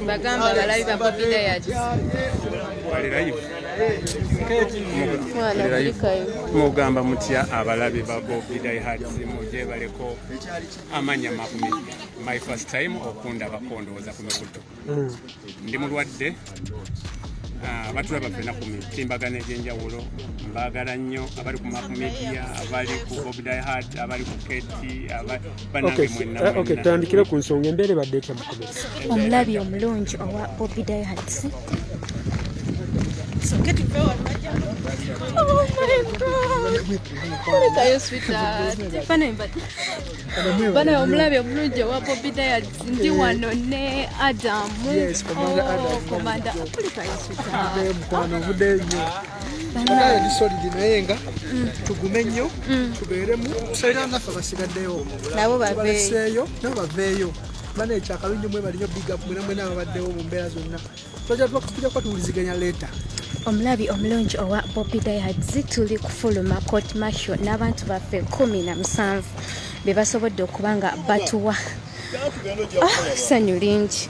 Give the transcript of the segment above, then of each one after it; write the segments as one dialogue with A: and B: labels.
A: bagamba balabi bababida
B: yakimugamba mutya abalabi babobidayatimugyebaleko amanya mabumi my first time okundabako ndowooza kumekutu mm. ndi mulwadde ah, batulaba fena ku mitimbagano egyenjawulo mbaagala nnyo abali ku map media abali ku obdihad abali ku keti banange mwenatandikire eh, ku nsonga
C: embeera ebadde etya mukomezi omulabi omulungi
A: owa obdihad So get it going. Oh my god. What are you, sweetheart? Funny, but. bana omulabi omulungi owa bobi diad ndi eh. wano ne adamu komanda
C: adamukwano ovude nyo banaye disolidi naye nga mm. tugume nnyo mm. tubeeremu era naffe basigaddeyo nabo baveeyo
A: nabo
C: baveeyo bana ekyakalungi mwe balinyo big up mwena mwena ababaddewo mu mbeera zonna twajja tujja kuba tuwuliziganya leeta omulabi
A: omulungi owa bobi diads tuli kufuluma court martial n'abantu baffe kumi na musanvu be basobodde okuba nga batuwa ah, ssanyu lingi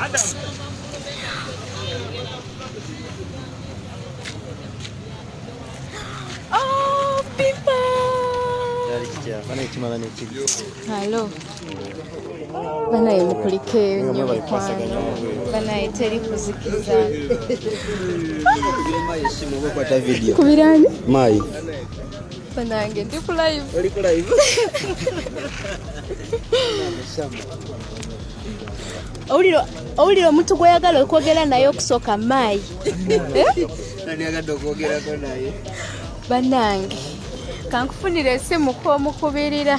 A: Adam. Oh, people. Hello. banaye mukulike nyo mikwano banaye teri kuzikiza kubirani mayi
D: Banange
A: ndi ku live. Oli ku live. Owulira owulira omuntu gw'oyagala okwogera naye okusooka maayi. Nani agadde okwogerako naye? Banange kankufunira esimu kw'omukubirira.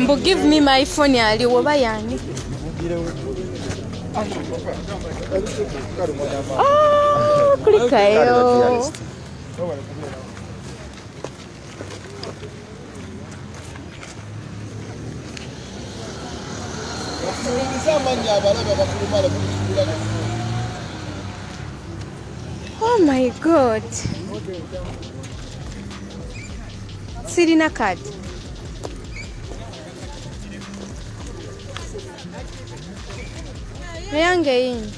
A: mbu give me my phone ali woba yani ah, kulikayo Oh my God. Sirina card. Nayange yini?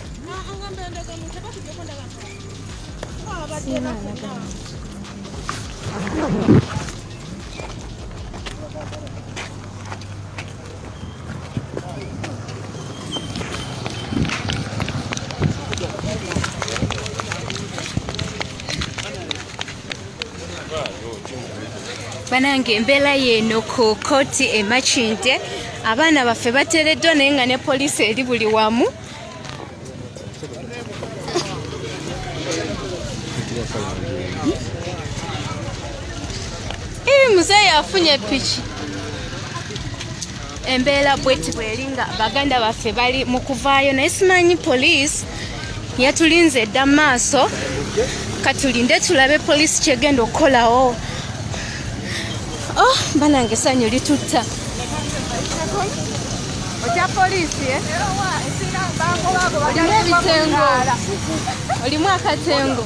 A: banange embeera yeeno ku kooti emakinde abaana baffe batereddwa naye nga ne poliisi eri buli wamu Hivi mzee afunye pichi embeera bweti bweri nga baganda baffe bali mu kuvaayo naye simanyi poliisi yatulinze edda mu maaso katulinde tulabe poliisi kyegenda okukolawo Oh, banange sanyu litutta okya polisi eh? olimu ebitengo olimu akatengo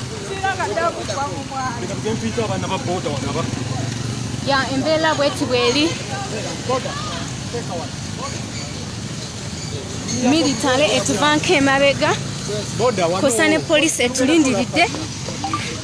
A: ya embeera bweti bweri militale etuvanko emabega kosa ne polisi etulindiridde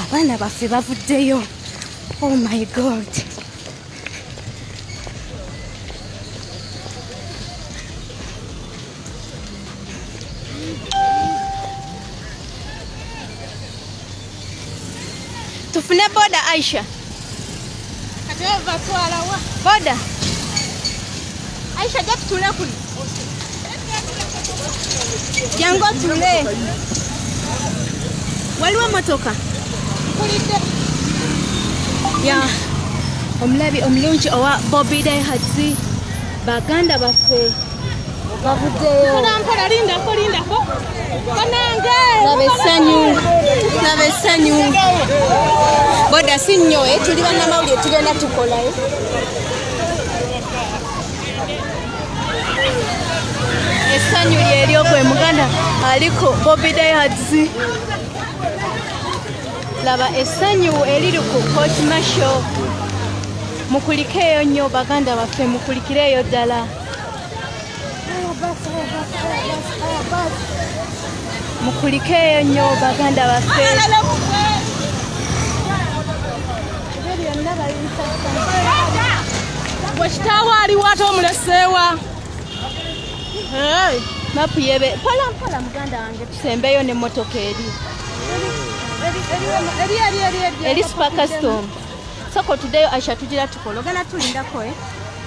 A: abaana baffe bavuddeyo oh my god tufune boda aisha boda aisha jatutule kuli jangu otule waliwo emotoka ya omulabi omulungi owa bobi daihatsi baganda baffe boda si nnyo eh, tuli bannamawulire tugenda tukolayo essanyu lyeryoku emuganda aliko bobi dayadzi laba essanyu eriri ku court marshal mukulikeeyo nnyo baganda baffe mukulikireeyo ddala mukulikeeyo nnyo baganda baffe
D: wekitaawo aliwo ate omuleseewa
A: mapu yebe mpola mpola muganda wange tusembeyo nemotoka eri eri super custom soko tudeyo aisha tugira tukologana tulindako eh?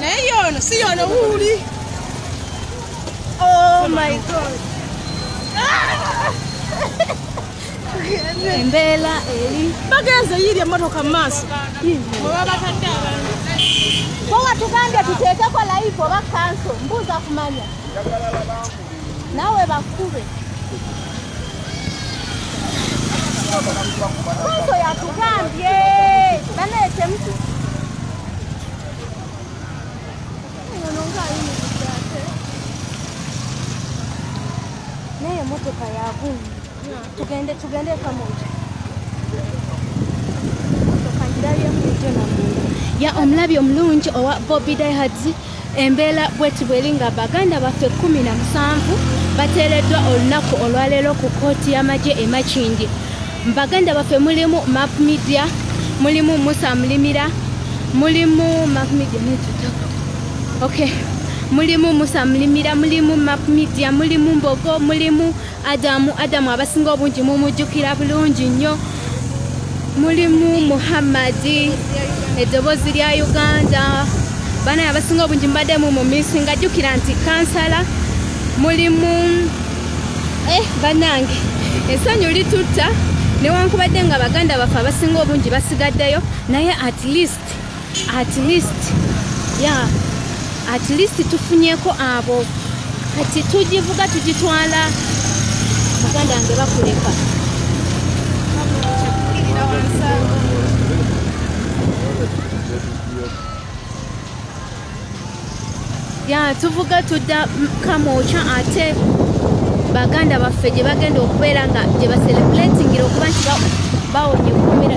D: Naye yono si yono wuli. Oh
A: my God. Embeela eri. Bagenze yiri
D: emotoka mu maaso. Webabatadde abantu. Bo
A: watugambye tuteekeko layivu oba kanso mbuuza kumanya. Nawe bakube. Mwanzo yatugambye. Bana etemtu. Naye motoka yagundi. Tugende tugende kamoja. ya omulabi omulungi owa Bobby Diehards embeera bweti bweri nga baganda baffe kumi na musanvu bateereddwa olunaku olwaleero ku kkooti y'amagye e Makindye baganda baffe mulimu map media mulimu musa mulimira mulimu map media netutako okay mulimu musa mulimira mulimu map media mulimu mbogo mulimu adamu adamu abasinga obungi mumujjukira bulungi nnyo mulimu muhammadi eddoboozi lya uganda banaye abasinga obungi mbadde mu mumisi nga jjukira nti kansala mulimu eh, banange esanyu litutta newankubadde nga baganda baffe abasinga obungi basigaddeyo naye at least at least yeah at least tufunyeko abo kati tugivuga tugitwala muganda nge bakuleka ya tuvuga tudda kamwokya ate baganda baffe gye bagenda okubeera nga gye baselebulatingira okuba nti bawonye okukomera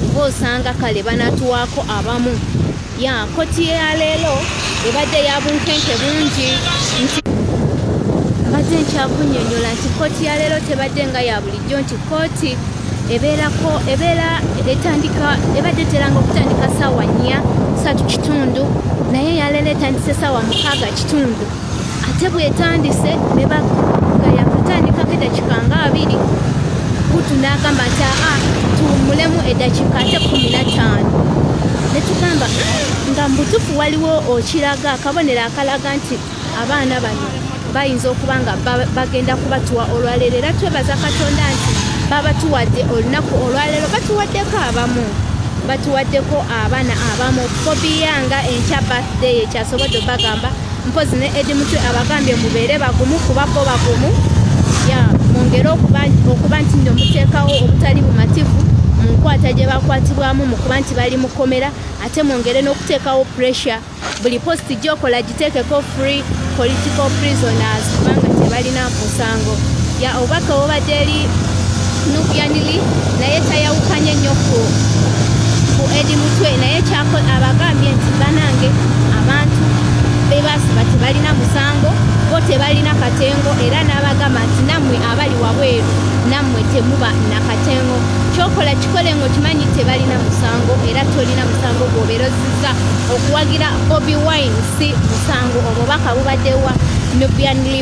A: kuba osanga kale banatuwaako abamu ya koti yaleero ebadde ya bunkenke bungi nti mbadde nkyakunyonyola nti kooti yaleero tebadde nga ya bulijjo nti kooti ebeerako ebeera etandika ebadde eteranga okutandika saawa nnya satu kitundu naye yaleero etandise saawa mukaaga kitundu ate bwetandise ne baga yakutandikako edakika nga abiri kutu nagamba nti aa tuwumulemu edakika ate kumi na taano netugamba nga mubutufu waliwo okiraga akabonero akalaga nti abaana bano bayinza okuba nga bagenda kubatuwa olwaleero era twebaza katonda nti babatuwadde olunaku olwaleero batuwaddeko abamu batuwaddeko abaana abamu bobiyanga enkya birthday ekyasobodde obagamba mpozi ne edi mutwe abagambye mubeere bagumu kuba bo bagumu ya mwongere okuba nti nno muteekawo obutali bumativu mu nkwata gye bakwatibwamu mu kuba nti bali mukomera ate mwongere n'okuteekawo pressure buli posti gyokola giteekeko free political prisoners kubanga tebalina musango ya obubaka obubadde eri nukyanili naye tayawukanye nnyo ku ku edi mutwe naye kyako abagambye nti banange abantu bebasiba tebalina musango bo tebalina katengo era n'abagamba nti nammwe abali wabweru nammwe temuba nakatengo kyokola kikole ngaokimanyi tebalina musango era tolina musango gwoberoziza okuwagira bobi wine si musango obubaka bubaddewa nubianli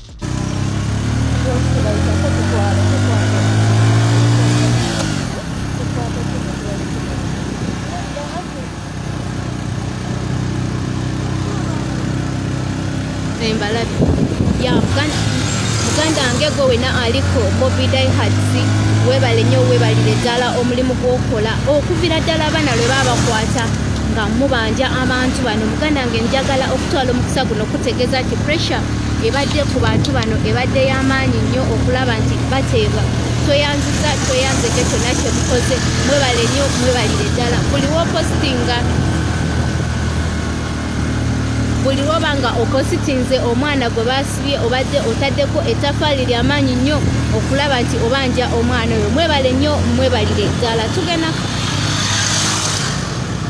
A: embalabi ya muganda wange gwe wena aliko bobi daihatsi webale nyo webalire ddala omulimu gwokola okuvira ddala abaana lwe babakwata nga mubanja abantu bano muganda wange njagala okutwala omukisa guno okutegeeza nti pressure ebadde ku bantu bano ebadde y'amaanyi nnyo okulaba nti bateebwa tweyanziza tweyanzege kyonna kyemukoze mwebale nnyo mwebalire ddala buli wopositinga buli woba nga opositinze omwana gwe basibye obadde otaddeko etafaali lyamaanyi nnyo okulaba nti obanja omwana oyo mwebale nnyo mwebalire ddala tugenda